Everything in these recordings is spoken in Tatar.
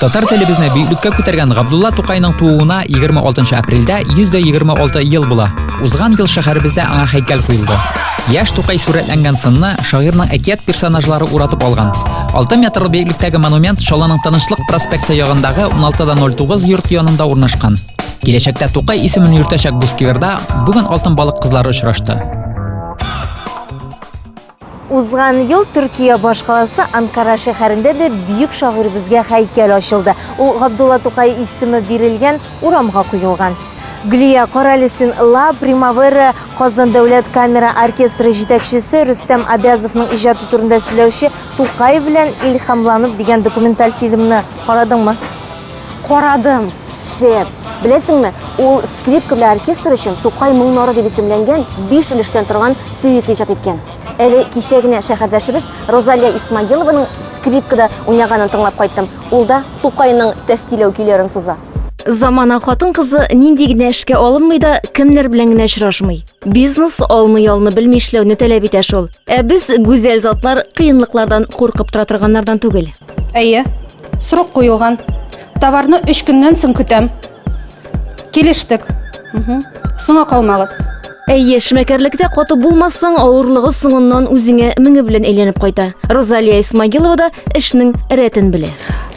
Татар телебезне бөеклеккә күтәргән Габдулла Тукайның тууына 26 апрельдә 126 ел була. Узган ел шәһәребездә аңа һәйкәл куелды. Яшь Тукай сурәтләнгән сынны шагыйрьнең әкият персонажлары уратып алган. 6 метр бөеклектәге монумент Шаланың Тынычлык проспекты ягындагы 16.09 йорт янында урнашкан. Киләчәктә Тукай исемен йөртәчәк бу скверда бүген алтын балык кызлары очрашты. Узган ел Төркия башкаласы Анкара шәһәрендә дә бөек шагыйребезгә һәйкәл ачылды. Ул Габдулла Тукай исеме бирелгән урамга куелган. Гөлия, карале син, Ла Примавера Казан дәүләт камера оркестры җитәкчесе Рөстәм Абязовның иҗаты турында сөйләүче Тукай белән илһамланып дигән документаль фильмны карадыңмы? Карадым, шәп. Беләсеңме, ул скрипка белән оркестр өчен Тукай моңнары дип исемләнгән биш өлештән торган сөит иҗат иткән. Әле кичә генә шәһәрдәшебез Розалия Исмагилованың скрипкада уйнаганын тыңлап кайттым. Ул да Тукайның Тәфтиләү көйләрен суза. Замана хатын-кызы нинди генә эшкә алынмый да, кемнәр белән генә очрашмый. Бизнес алны ялны белми эшләүне таләп итә шул. Ә без, гүзәл затлар, кыенлыклардан куркып тора торганнардан түгел. Әйе. Срок куелган. Товарны 3 көннән соң көтәм. Килештек. Мгм. Соңа калмагыз. Әйе, шмәкәрлектә каты булмасаң, авырлыгы соңыннан үзеңә меңе белән әйләнеп кайта. Розалия Исмагилова да эшнең рәтен белә.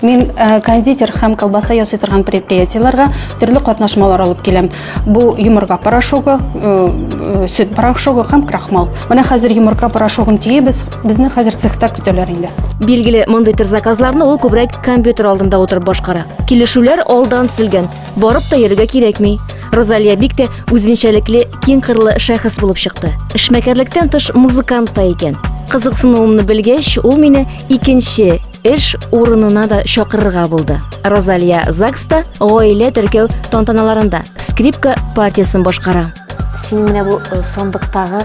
Мин э, кондитер һәм колбаса ясый торган предприятиеләргә төрле катнашмалар алып киләм. Бу йомырка порошогы, э, э, сөт порошогы һәм крахмал. Менә хәзер йомырка порошогын төйибез, Безне хәзер цехта көтәләр инде. Билгеле, мондый төр заказларны ул күбрәк компьютер алдында утырып башкара. Килешүләр алдан төзелгән, барып та йөрергә кирәкми. Розалия бик тә үзенчәлекле, киң кырлы шәхес булып чыкты. Эшмәкәрлектән тыш музыкант та икән. Кызыксынуымны белгәч, ул мине икенче эш урынына да чакырырга булды. Розалия ЗАГСта гаилә теркәү тантаналарында скрипка партиясен башкара. Синең менә бу э, сандыктагы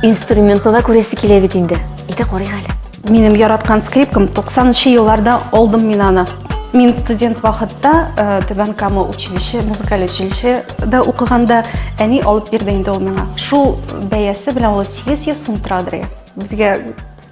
инструментны да күрәсе килә бит инде. Әйдә карыйк әле. Минем яраткан скрипкам 90-нчы елларда алдым мин аны. Мин студент вакытта э, Түбән Кама училище, музыкаль училище да укыганда әни алып бирде инде ул миңа. Шул бәясе белән ул 800 сум торадыр. Безгә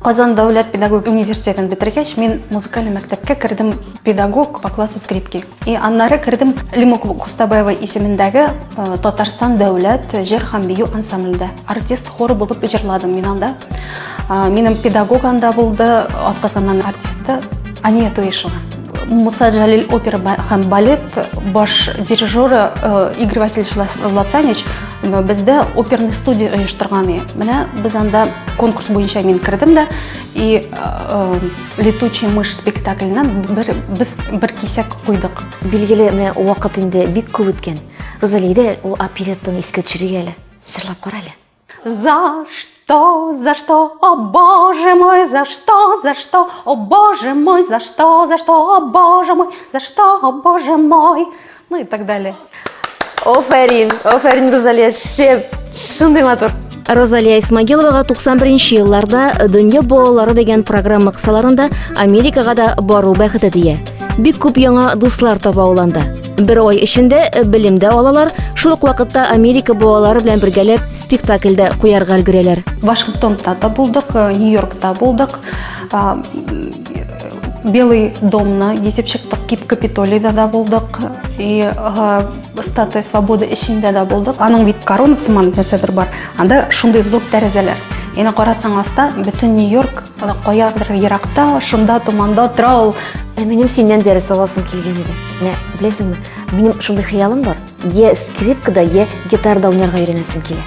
Казан дәүләт педагогик университетын бетергәч, мин музыкаль мәктәпкә кердем педагог по классу скрипки. И аннары кердем Лимук Кустабаева исемендәге э, Татарстан дәүләт җыр һәм бию ансамблендә. Артист хоры булып җырладым мин анда. Э, минем педагог анда булды, атказаннан артисты Ания Туешева. Муса Джалил опера һәм балет баш дирижеры э, Игорь Васильевич Лацанич э, бездә оперный студия оештырган иде. Менә без анда конкурс буенча мин кердем дә и э, летучий мышь спектакленә бер без бер кисәк куйдык. Билгеле, менә вакыт инде бик күп үткән. Розалиядә ул опереттаны искә төшерик әле. Җырлап кара әле. За что, за что, о боже мой, за что, за что, о боже мой, за что, за что, о боже мой, за что, о боже мой. Ну и так далее. Оферин, оферин, Розалия, шеп, шундай матур. Розалия Исмагиловага 91 елларда Дөнья балалары дигән программа кысаларында Америкага да бару бәхете тия. Бик күп яңа дуслар таба ул анда. Бер ай эчендә э, белем дә алалар, шул ук вакытта Америка буалары белән бергәләп спектакль дә куярга өлгерәләр. Вашингтонда да булдык, э, Нью-Йоркта булдык. Белый домны гизеп чыктык, Кип Капитолийда да булдык, и Статуя Свободы эчендә да булдык. Аның бит корона сыман нәрсәдер бар. Анда шундый зур тәрәзәләр. Яна карасаң аста бөтен Нью-Йорк Ана каярдыр еракта, шунда томанда тора ул. Ә минем синнән дәрес аласым килгән иде. Менә беләсеңме, минем шундый хыялым бар. Е скрипкада, е гитарда уйнарга өйрәнәсем килә.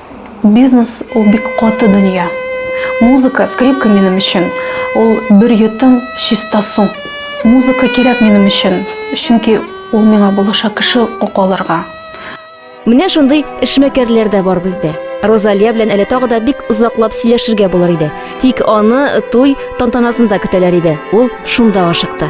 Бизнес ул бик каты дөнья. Музыка, скрипка минем өчен, ул бер йотым чиста су. Музыка кирәк минем өчен, чөнки ул миңа булыша кеше ук алырга. Менә шундый эшмәкәрләр дә бар бездә. Розалия белән әле тагы да бик озаклап сөйләшергә булыр иде. Тик аны туй тантанасында көтәләр иде, ул шунда ашыкты.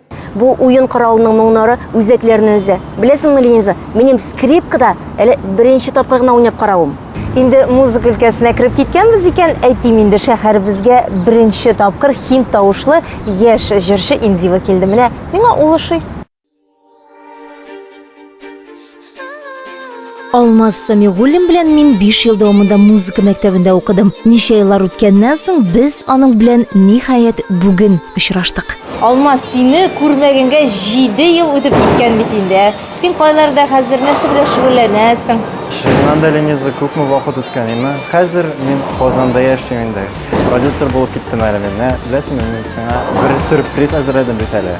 Бу уен коралының моңнары үзәкләрне өзә. Беләсеңме, Лениза, минем скрипкада әле беренче тапкыр гына уйнап каравым. Инде музыка өлкәсенә кереп киткәнбез икән, әйтим инде шәһәребезгә беренче тапкыр хинд тавышлы яшь җырчы Индива килде. Менә миңа ул ошый. Алмаз Самигуллин белән мин 5 ел дәвамында музыка мәктәбендә укыдым. Ничә еллар үткәннән соң без аның белән ниһаять бүген очраштык. Алмаз, сине күрмәгәнгә 7 ел үтеп киткән бит инде. Син кайларда хәзер нәрсә белән шөгыльләнәсең? Шуннан да Лениза күпме вакыт үткән инде. Хәзер мин Казанда яшим инде. Продюсер булып киттем әле мин. Менә беләсеңме, мин сиңа бер сюрприз әзерләдем бит әле.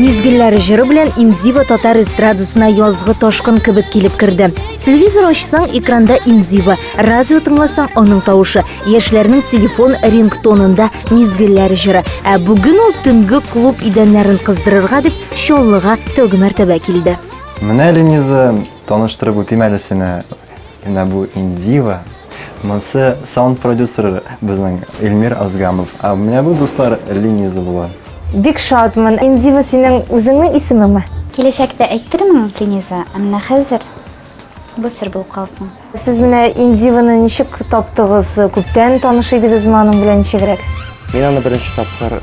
Мизгелләр җыры белән Индива татар эстрадасына язгы ташкын кебек килеп керде. Телевизор ачсаң, экранда Индива, радио тыңласаң, аның тавышы, яшьләрнең телефон рингтонында мизгелләр җыры. Ә бүген ул төнге клуб идәннәрен кыздырырга дип Чаллыга тәүге мәртәбә килде. Менә Лениза Таныштырып үтим әле сине. Менә бу Индива. Монсы саунд продюсер безнең Эльмир Азгамов. А менә бу дуслар Лениза була. Бик шатмын. Индива синең үзеңнең исемеңме? Киләчәктә әйтермен, Лениза, ә менә хәзер бу сер булып калсын. Сез менә Индиваны ничек таптыгыз? Күптән таныш идегезме аның белән ничегрәк? Мин аны беренче тапкыр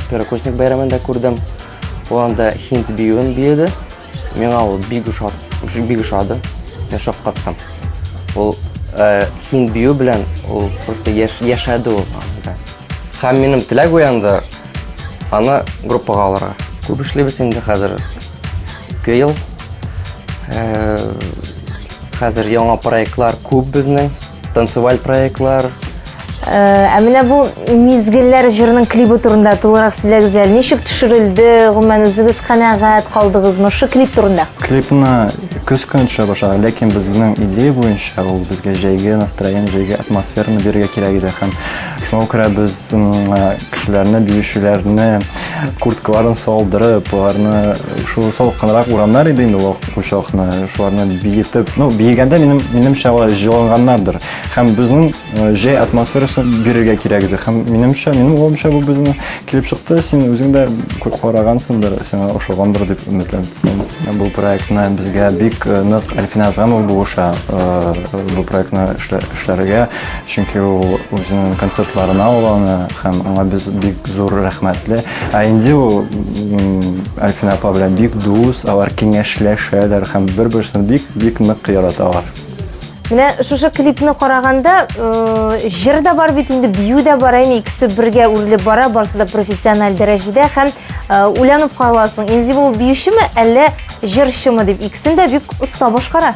Первокурсник бәйрәмендә күрдем. Ул анда хинт биюен биеде. Миңа ул бик ошады. Мин шаккаттым. Ул э, хин бию белән ул просто яшәде ул. Һәм минем теләк уянды аны группага алырга. Күп эшлибез инде хәзер. Ике ел. Э, хәзер яңа проектлар күп безнең. Танцеваль проектлар. Э, ә менә бу мизгелләр җырының клибы турында тулырак сөйләгез әле. Ничек төшерелде? Гомумән үзегез канәгать калдыгызмы шу клип турында? Клипны көз көне төшә башлаган, ләкин безнең идея буенча ул безгә җәйге настроение, җәйге атмосфераны бирергә кирәк иде һәм шуңа күрә без кешеләрне, биючеләрне курткаларын салдырып, аларны шул салкынрак урамнар иде инде ул учакны, шуларны биетеп, ну, биегәндә минем минемчә алар җыланганнардыр. Һәм безнең э, җәй атмосферасын бирергә кирәк иде. Һәм минемчә, минем уйлавымча бу безнең килеп чыкты. Син үзең дә күп карагансыңдыр, сиңа ошагандыр дип өметләнәм. Бу проектны безгә бик э, нык Әлфинә Азамова булыша, э, бу проектны эшләргә. чөнки ул үзенең концертларына ул аны һәм аңа без бик зур рәхмәтле ә инде ул альфина апа белән бик дус алар киңәшләшәләр һәм бер берсен бик бик нык яраталар менә шушы клипны караганда җыр да бар бит инде бию дә бар әйме икесе бергә үрелеп бара барысы да профессиональ дәрәҗәдә һәм уйланып каласың инде ул биючеме әллә җырчымы дип икесен дә бик оста башкара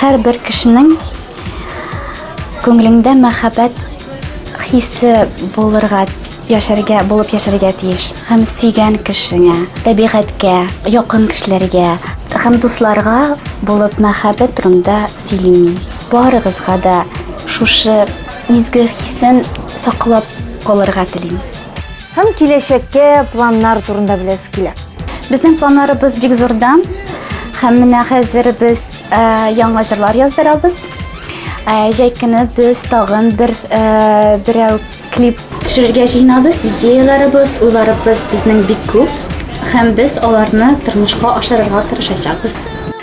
Һәрбер кешенең күңелендә мәхәббәт хисе булырга яшәргә, булып яшәргә тиеш. Һәм сөйгән кешеңә, табигатькә, якын кешеләргә һәм дусларга булып мәхәббәт турында сөйлим мин. Барыгызга да шушы изге хисен саклап калырга телим. Һәм киләчәккә планнар турында беләсе килә. Безнең планнарыбыз бик зурда. Һәм менә хәзер без э, яңа җырлар яздырабыз. Э, Җәй көне без тагын бер э, берәү клип төшерергә җыенабыз. Идеяләребез, уйларыбыз безнең бик күп. Һәм без аларны тормышка ашырырга тырышачакбыз.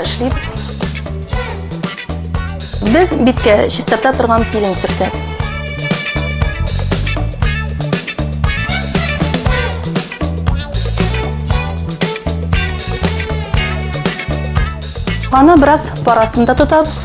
эшлибез. Без биткә чистарта торган пилинг сөртәбез. Аны бераз пар астында тотабыз.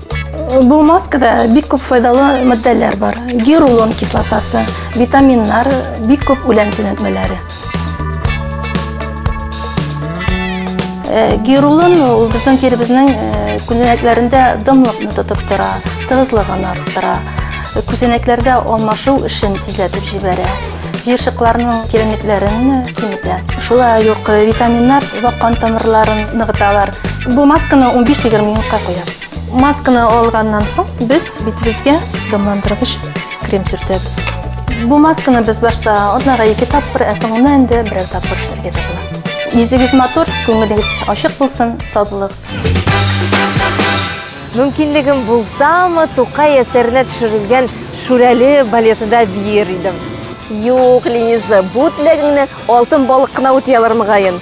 Бу маскада бик күп файдалы матдәләр бар. Гирулон кислотасы, витаминнар, бик күп үлән төнәтмәләре. Э, гирулон ул безнең тиребезнең э, күзәнәкләрендә дымлыкны тотып тора, тыгызлыгын арттыра. Э, күзәнәкләрдә алмашу эшен тизләтеп җибәрә. Җыерчыкларның тирәнлекләрен киметә. Шулай ук витаминнар вак кан тамырларын ныгыталар. Бу масканы 15-20 минутка куябыз. Масканы алганнан соң без битебезгә дымландыргыч крем сөртәбез. Бу масканы без башта атнага ике тапкыр, ә соңында инде берәр тапкыр эшләргә дә була. Йөзегез матур, күңелегез ачык булсын, саулыгыз. Мөмкинлегем булсамы, Тукай әсәренә төшерелгән Шүрәле балетында биер идем. Юк, Лениза, бу теләгеңне алтын балык кына үти алыр мөгаен.